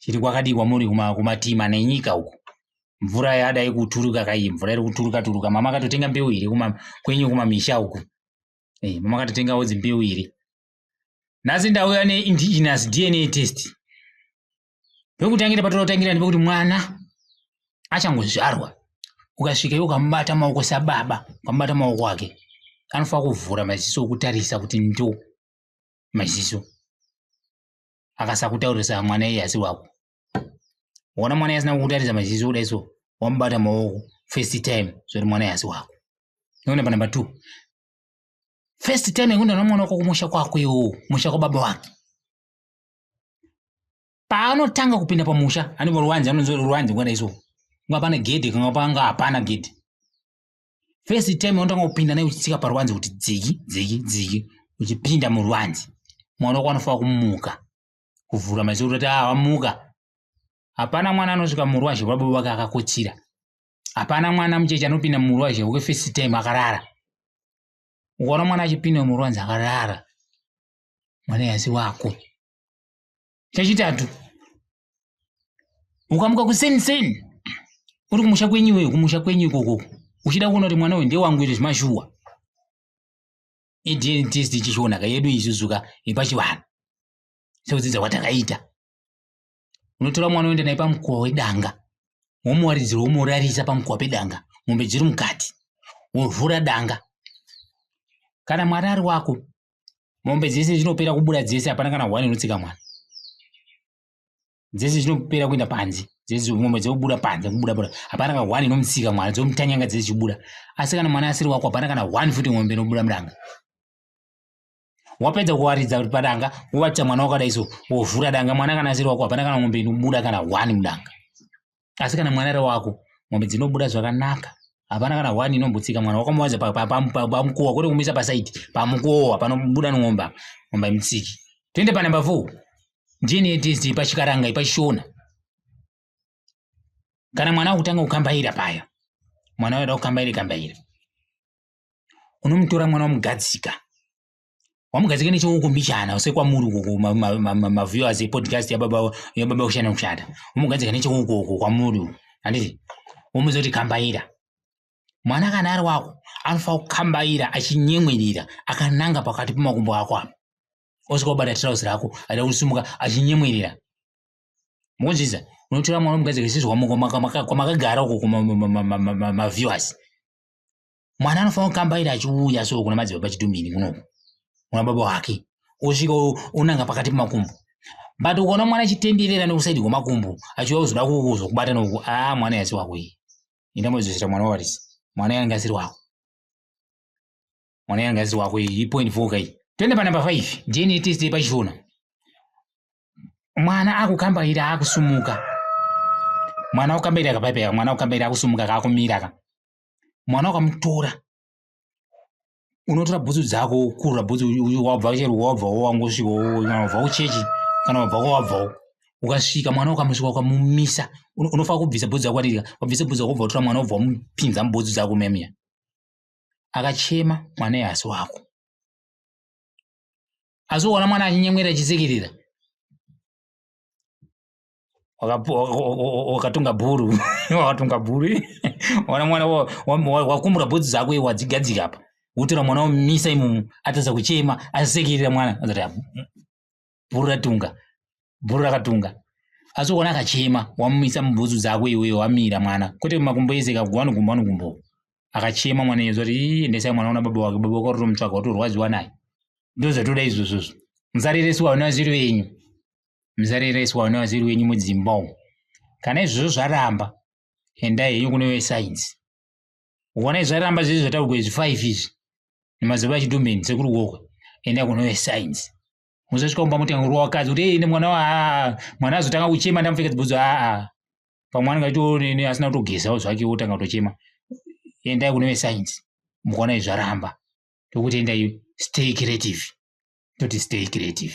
chiri kwakadii kwamuri kumatima nenyika uku mvura yada ikuturuka kai mvura iri kuturuka turuka mama akatotenga mbeu here kwenyu kumamisha uku hey, eh, mama akatotengawo dzimbeu here nhasi ndauya neindigenous dna test pekutangira patinotangira ndepekuti mwana achangozvarwa ukasvika iwe ukamubata maoko sababa ukamubata maoko ake anofanira kuvhura maziso okutarisa kuti ndo maziso akasakutaurisa mwana iye asi wako wona mwana asina kukutaridza maziso kudai so wamubata maoko first time zvoti mwana yasi wako nona panumber two first time yekuenda nomwana wako kumusha kwako iwowo musha kwababa wake paanotanga kupinda pamusha anova ruwanzi anonzi ruwanzi ngwana iso kunga pane gedhi kanga panga hapana gedhi first time yaunotanga kupinda nayo uchitsika parwanzi kuti dziki dziki dziki uchipinda murwanzi mwana wako anofanira kumuka kuvhura maisoro kuti ah wamuka hapana mwana anosvika murwazhe rwababa wake akakotsira hapana mwana mucheche anopinda murwazhe rwake first time akarara ukaona mwana achipinda murwanzi akarara mwana yasi wako chechitatu ukamuka kuseni seni uri kumusha kwenyu iweyo kumusha kwenyu ikoko uchida kuona kuti mwana uyu ndewangu iri zvimashuwa idn test ichishonaka yedu izuzuka yepachivanhu sekudzidza kwatakaita unotora mwana uenda naye pamukuwa wedanga womuwaridzira womurarisa pamukuwa pedanga mombe dziri mukati wovhura danga kana mwari ari wako mombe dzese dzinopera kubuda dzese hapana kana one inotsika mwana dzese dzinopera kuenda panze dzese mombe dzobuda panze kubuda buda hapana kana one inomutsika mwana dzomutanyanga dzese chibuda asi kana mwana asiri wako hapana kana one futi mombe inobuda mudanga wapedza kuwaridza kuti padanga wovatisa mwana wakadai so wovhura danga mwana kana asiri wako hapana kana mombe inobuda kana one mudanga asi kana mwana ari wako mombe dzinobuda zvakanaka hapana kana one inombotsika mwana wakamuwanza pamukowa kwete kumisa pasaidi pamukowa panobuda n'omba n'omba imutsiki toende panumber four ndini yetesti pachikaranga ipachishona kana mwana akutanga kukambaira paya mwana wada kukambaira kambaira unomutora mwana wamugadzika wamugadzike nechouko mbichana sekwamuri ukoko maviewers epodcast yababa yababa kushana kushata wamugadzika necheukoko kwamuri uko handiti womuzoti kambaira mwana kana ari wako anofanira kukambaira achinyemwerera akananga pakati pemakumbo ako apa osvika kubata trouse rako ada kusumuka achinyemwerera mukunzvisa unotora mwana omugadzika isizvo kwamakagara uko kumaviewers mwana anofanira kukambaira achiuya so kuna madzibaba chitumbini kunoku kuna baba wake osvika onanga pakati pemakumbo but ukaona mwana achitenderera nekusaidi kwemakumbo achiuya kuzoda kuzokubata noku a ah, mwana yasi wako iyi enda moizosvira mwana wavarisi mwana yange asiri wako mwana yange asiri wako iyi ipoint four ka iyi toenda panumber five dna test yepachishona mwana akukambaira akusumuka mwana ukambaira kapaipeka mwana ukambaira akusumuka kaakumira ka mwana ukamutora unotora bhutsu dzako ukurura bhutsu wabva chero wabva wangosvika wabva kuchechi kana wabva kwawabvawo ukasvika mwana ukamusvika ukamumisa unofana kubvisa bhutsu dzako kwatirika wabvisa bhutsu dzako ubva utora mwana ubva wamupinza mubhutsu dzako memiya akachema mwana ehasi wako asi uona mwana achinyemwerera achisekerera wakatunga bhuru wakatunga bhuru wana mwana wakumbura bhudzi dzako iwe wadzigadzika apa wotora mwana womisa imomo atadza kuchema asekerera mwana bhuru ratunga bhuru rakatunga asi ukaona akachema wamumisa mubhutsu dzako iweyo wamira mwana kwete makumbo ese kagwa anogumbo anogumbo akachema mwana iye zoti endesai mwana una baba wake baba wake watotomutsvaga watorwadziwa naye ndozvatoda izvozvozvo musareresiwa vana vaziri venyu muzarereswa vana vaziri wenyu mudzimba umu kana izvozvo zvaramba endai henyu kune vesainzi ukaona izvi zvaramba zviri zvataurwa izvi five izvi nemazoba achidumbeni sekuri wokwe enda kune vesainzi muzosvika kumba moti ngurwa wakadzi kuti ine mwana wa mwana azotanga kuchema ndamupfeka dzibhudzo aa pamwe anenge achitoonene asina kutogezawo zvake wotanga kutochema endai kune vesainzi mukaona izvi zvaramba tokuti endai stay creative toti stay creative